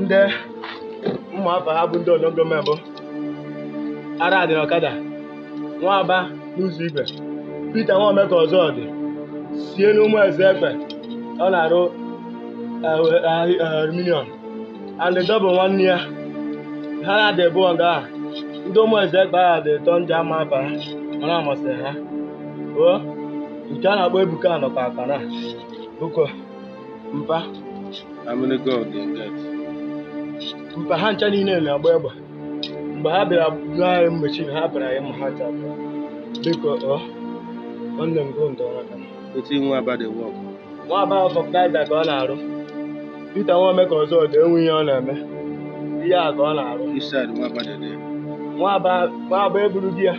ndị m ma afa ha bụ ndị unknown gunmen bụ ara dị n'ọkada nwa aba n'ụzọ igwe Pita nwa omeka ọzọ dị sie n'ụmụ eze ekpe ọ na-arụ eh, eh, eh, aluminium and Double nwanne ya ha na dị bụ nga a ndị ụmụ eze ekpe ha dị atọ ndị ama afa ha mana amasịrị ha o nke a na-akpọ ebuka nọkwa aka na biko mpa How many gun do you get? mpa ha ncha niile na-agba egbe mgbe ha bịara gụọ anyị mmechi na ha bịara anyị ma ha ncha bịara. biko ọ nwanne m gụ ndọrọ aka wetin nwa aba dey work nwa aba vulcanizer ka ọ na-arụ pita nwa omeka ọzọ dị enwe ihe ọ na-eme ihe a ka ọ na-arụ which side nwa aba dey dey nwa aba nwa aba eburu di ya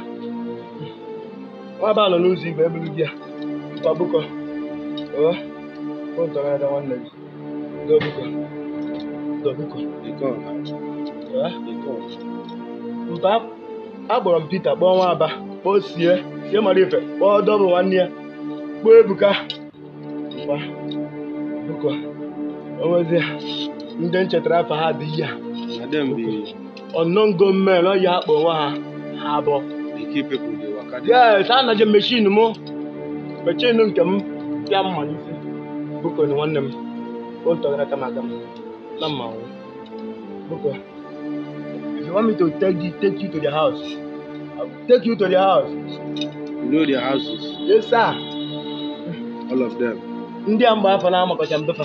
nwa aba nọ n'ụzọ igwe eburu di ya mpa biko ewe ụtọ na-ada nwanne gị mpa akpọrọ m Pita kpọọ nwa aba kpọọ sie sie mara ife kpọọ Double nwanne ya kpọọ ebuka mpa biko onwezi ndị m chetara afa ha dị ya unknown gunmen ọ ya akpọ onwe ha ha abụọ yes sir naje meshin m meshin nke m ya mma n'isi biko nwanne m o ntọgara kama aka m na mma nwụ biko if you want me to take you, take you to the house I will take you to the house You know their houses, yes sir all of them. ndị a mgbe afa na amakọcha m be fa